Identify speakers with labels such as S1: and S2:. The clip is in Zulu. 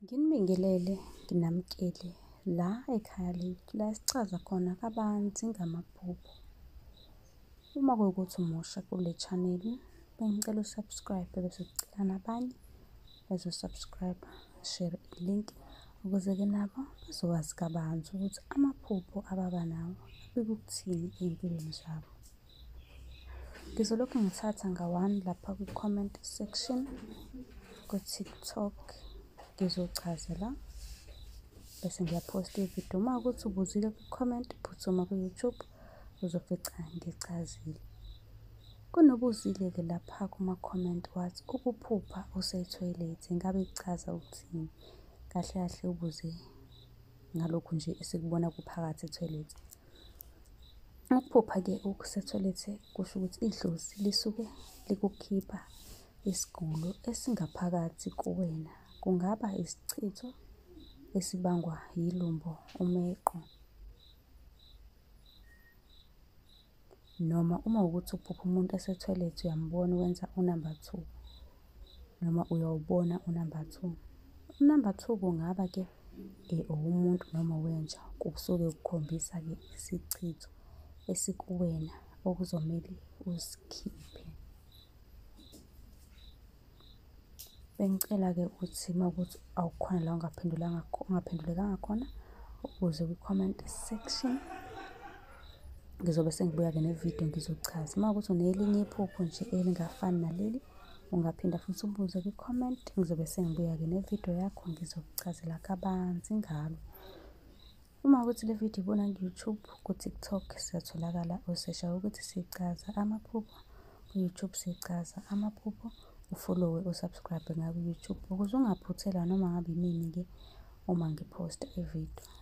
S1: Nginibingelele, nginamukele la ekhaya lethu la esichaza khona kabanzi ngamaphupho. Uma kuwukuthi umusha kule channel, bengicela usubscribe bese ucela nabanye bezosubscribe, share i-link ukuze-ke nabo bazokwazi kabanzi ukuthi amaphupho ababa nawo abikuthini ey'mpilweni zabo. ngizolokhu ngithatha nga-one lapha kwi-comment section ku-tiktok ngizochaza la bese ngiyaphosta ividiyo uma ukuthi ubuzile kwi-comment phuthuma ku-youtube uzofica ngichazile kunobuzile-ke lapha kuma-comment wathi ukuphupha usethoyilethi ngabe kuchaza ukuthini kahle kahle ubuze ngalokhu nje esikubona kuphakathi ethoyilethi ukuphupha-ke okusethoyilethi kusho ukuthi idlozi lisuke likukhipha isigulo esingaphakathi kuwena kungaba isichitho esibangwa yilumbo umeqo noma uma ukuthi uphupha umuntu esethoilet uyambona wenza unumber two noma uyawubona unumber two unumber two kungaba ke um owomuntu noma wenja kusuke kukhombisa-ke isichitho esikuwena okuzomele usikhiphe Bengicela-ke ukuthi uma ukuthi awukhona la ungaphendulanga ungaphendulekanga khona ubuze kwi-comment section. Ngizobe sengibuya-ke nevidiyo ngizochaza. Uma ukuthi unelinye iphupho nje elingafani naleli ungaphinda futhi ubuze kwi-comment. Ngizobe sengibuya-ke nevidiyo yakho ngizokuchazela kabanzi ngalo. Uma ukuthi le video ibona ku-YouTube, ku-TikTok siyatholakala osesha ukuthi sichaza amaphupho ku-YouTube sichaza amaphupho ufollowe usubscribe ngaku-YouTube ukuze ungaphuthelwa noma ngabe inini-ke uma ngiphosta ividiyo.